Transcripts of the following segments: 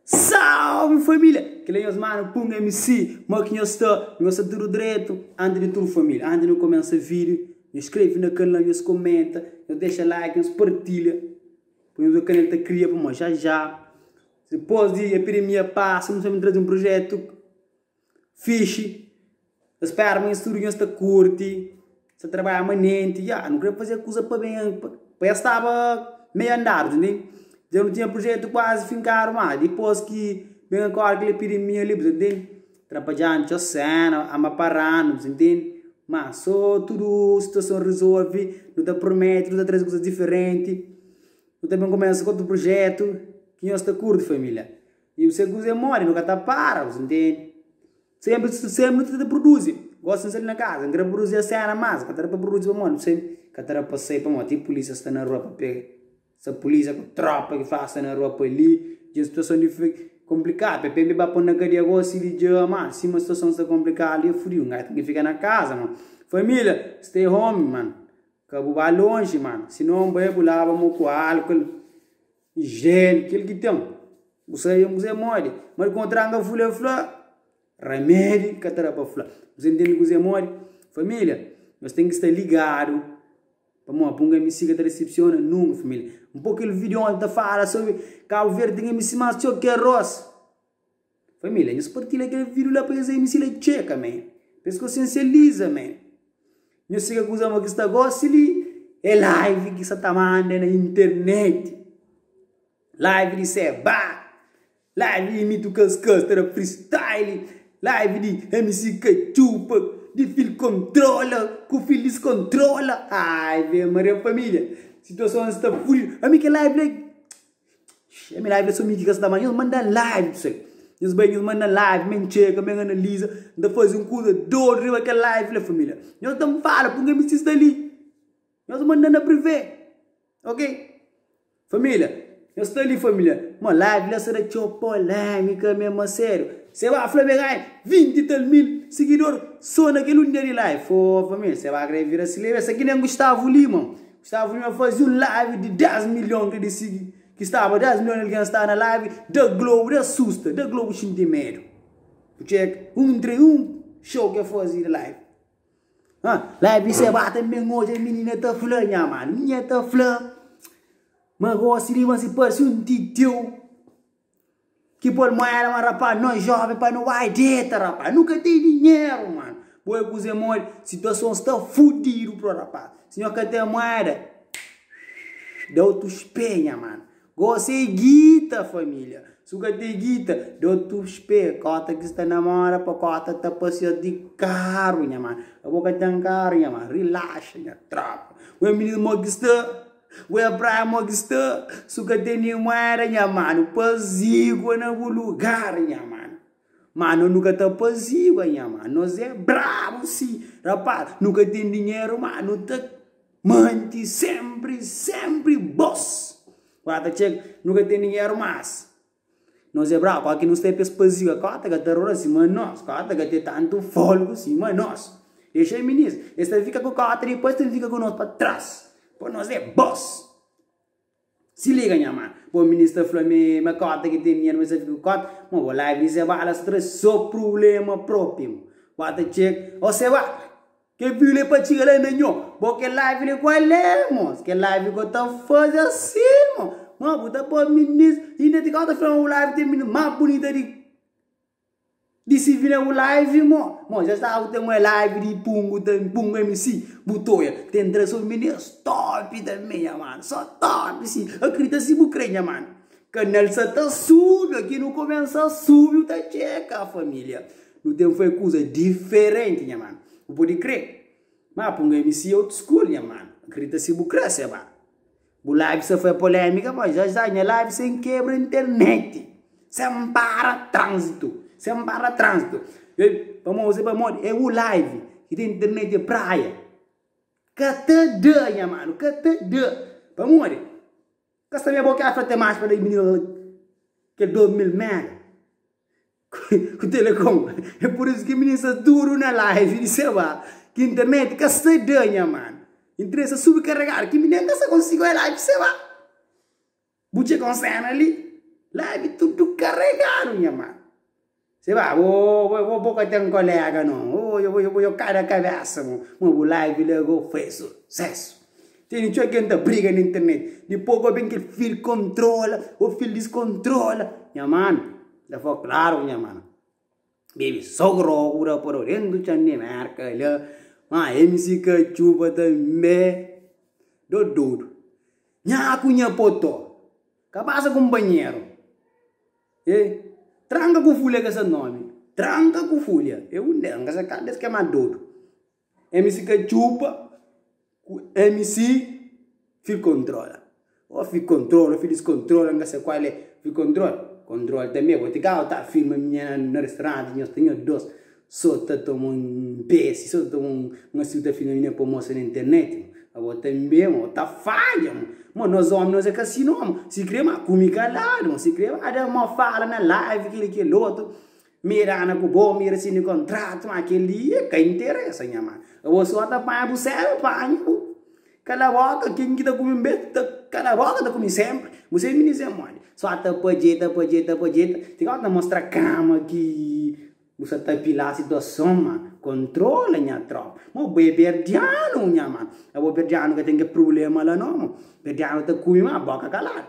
Salve família! Kila nhos mano pum MC, ma ki nhos sta, nhos sta tudo direto. Antes de tudo família, antes de nu começa vídeo, nhos skreve na canal, nhos comenta, nhos deixa like, nhos partilha. Pa nhos o canal ta cria pa mó já já. Depois de epidemia passa, nu sabe trazer um projeto. Fixi. Ta spera ma nhos tudu nhos ta kurti, sta trabadja manenti. Ya, nu krê faze kuza pa ben, pa es staba meiu andadu, ta ntende? Dja nu tinha prujetu kuazi finkadu má, dipôs ki ben agóra kel epidemia li, bu ta ntende, trabadjandu txeu séna, ama paradu, bu ta ntende. Má sô tudu situason rizolve, nu ta promete nu ta traze kuza diferenti. Nu ta ben kumesa ku otu prujetu ki nhos ta kurti, família. I se kuz e modi nu ka ta para bu sintende senpri su senpri nu ta ta pruduzi gosi nu sali na kaza nu kre pruduzi a sena mas ka ta da pa pruduzi pamodi bu sabe ka ta da pa sai pamodi ti pulisia sta na rua pa pega sa pulisia ku tropa ki fla sta na rua pa li dja un situason konplikadu pepe mi ba pon na kadia gosi si di dja ma sima situason sta konplikadu li e fudiu ngai ten ki fika na kaza man familia stay home man ka bu ba lonji man sinon bai bu laba mo ku alkol Jel, kel ki ten. Bu sai e kuzê modi? Má di kontranga fule fla, remedi ka ta da pa fla. Bu sai ntende kuzê modi? Família, nos ten ki sta ligadu. Pamodi? Pa un mc ka ta desepsiona nunka, família. N pô kel vídeo onti ta fala sobri Kabu Verdi ten mc más txeu ki arós. Família, nhos partilha kel vídiu la pa es Amy si la txeka, mé Pa es konsiensializa, mé Nhos si ka kuza ma ki sta gósi li É live ki sa ta manda na internet Live di Seba Live di Amy Tucascas ta da freestyle Live di MC Katchupa Di Fil Controla Ku Fil Discontrola Ave Maria Família, situason sta fudidu Ami kel live la. Xii milagri es família ki ka sta má nhos manda live ssai nhos bai nhos manda live mi N txeka mi N analiza N ta faze un kuza dodu riba kel live li la família nhos ta N fala purkê mi sti sta li nhos manda na privê ok família nhos sta li família ma live li la sta ta txeu polêmika mésmu asériu se ba fla ma e ganha vinti tal mil sigidor sô na kel un dia di live fô família se ba krê bira si lebe esa ki nen Gustavo Lima. Staba li na fazi un live di 10 milhon ke disidi ki staba 10 milhon algen sta na live da globo da susta da globo xinti medu u tcheka un entre un show ke fazi na live ah live se ba ta ben oja minina ta fla nha manu minha ta fla ma gosi di ma si parsi un titeu Ki pol moeda ma rapaz nós jovem pa nu bai deta rapaz nu ka tem dinheiro mano bo é kuze mole situação sta fudido pro rapaz si nho ka tem moeda da otus pé nha mano gosi é guita família su ka tem guita da otus pé kota ki sta namora pa kota ta passear di carro nha mano abo ka tem carro nha mano relaxa nha tropa bo é menino mo ki sta Ue Abraham o ki sta su ka ten nin mueda nha manu pazigua na bu lugar nha manu ma no nu ka ta pazigua nha manu nos é brabu si rapaz nu ka ten dinheru ma nu ta manti sempri sempri bos ua ta txega nu ka ten dinheru mas Nos é brabu, óki nos ta é pa es pazia, kó ta ka ta rora sima nos, kó ta ka ten tantu fólgu sima nos. Dexa el minis, es ta fika ku kó ta dipôs ta fika ku nos pa tras, pa nos é bos. Si liga nha man, bo minis ta fla mi ma kó ta ki ten dinheru ma es ta fika ku kó ta, ma bo live di Sebada sta tra so prubléma própi, bo ta txega, ó Sebada, Kel vinhu li pa txiga la na nho. Bo kel live li kua lé mos kel live ko ta fazi asi mo ma bu ta poi minis inda ti kau ta fla ma bu live ten minis ma bunita di di si vi na bu live mo mo ja staba ku ten un live di pungu ta pungu mc bu ta oia ten tres o minis top tambi nha mano so top si akrita si bu kre nha mano kanal sa ta subi oki nu komensa subi bu ta txeka familia. Nu ten fai kuza diferenti, nha mano. Bu pode kre, ma pun MC old school, nha mano. Akredita si bu kre, se ba. Bu live sa fai polemika, ma ja sa nha live sen kebra internet. Sen para tranzito, sen para tranzito. Ei, pamodi, pamodi e u live ki ten internet e praia. Ka ta da, nha mano, ka ta da. Pamodi? Ka sta me bo kefra te mas pa da i minina la kel 2000 mega. Ku telecom é por isu ki mi sta duru na live di sa ba ki internet ka sta da nha man internet sta subi karegadu ki mi nen ka sta konsigu oja live di sa ba bu txeka un sena li live tudu karegadu nha man se ba bo bo ka ten kolega no bo bo kada kabesa bo ma bu live la go fai susesu tene txeu ken ta briga na internet dipos go ben kel fil kontrola o fil diskontrola nha man. Da fla klaru nha mana. Baby sogro ku da poro dentu txan di merka la ma MC Katxupa tanbe do dodu nha ku nha potó kabasa ku nbanheru e tranka ku fulha ke sa nomi tranka ku fulha e undel nkasa kal des ke ma dodu. MC ka txupa ku MC fi kontrola Ó fi kontrola, ó fi diskontrola N ka se kual é fi kontrola Kontrola tanbe bo ti kau ta firma Nha na restoranti nhos ta nho dos So ta toma un pesi, so ta toma un Nha si bu ta filma mi na promoson na internet mo Pa bo tanbe mo ta fadja mo Mo nos omi nos é kasino mo Si kre ma ku mi kaladu mo Si kre ma da mo fala na live kel i kel otu Mi dana ku bo, mi rasini kontratu, ma kel li e ka interesa nha ma. Abo so ta panha bu sérvu pa anha bu. Kala boka, ken ki ta ku mi un bes ta kala boka ta ku mi senpri. Bu sai mi dise modi. So ta padjeta, padjeta, padjeta, ti ka bu ta mostra kama ki bu sa ta apila situason ma. Kontrola nha tropa. Mo bo e berdianu nha ma. Abo berdianu ka ten ke prulema la no mo. Berdianu ta ku mi ma boka kaladu.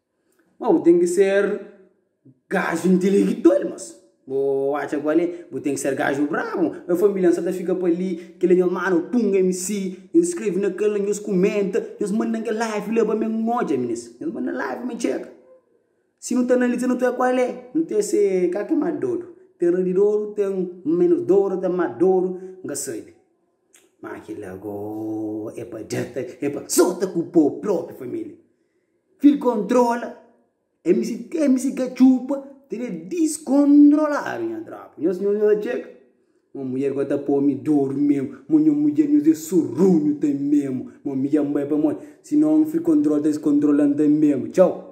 Má bu ten ki ser gaju intilegital, mas bo atxa kual é? Bu ten ki ser gaju brabu. Nha família N sa ta fika pa li, kel nha manu Punga MC, nhos skrebe na kel la, nhos kumenta, nhos manda-m kel live la pa mi N odja, minis. Nhos manda-m live mi txeka. Si nu ta analiza nu ta wê kual é? Nu ta wê se ka ki é más dodu. Ten radidoru, ten ménus doru, ten más doru, N ka sabe. Ma ki la go é pa djata, é pa sota ku po propi família. Fil kontrola, é misi te, é misi ka txupa, tel é diskondroladu nha tropa. Nhos nhos nhos txeka. Mo mulher go ta pomi doru memu, mo nho mudjer nhos é surrunhu ta memu. Mo mi dja mbai pamodi, sinon fil kontrola ta diskondrola-m ta memu. Txau!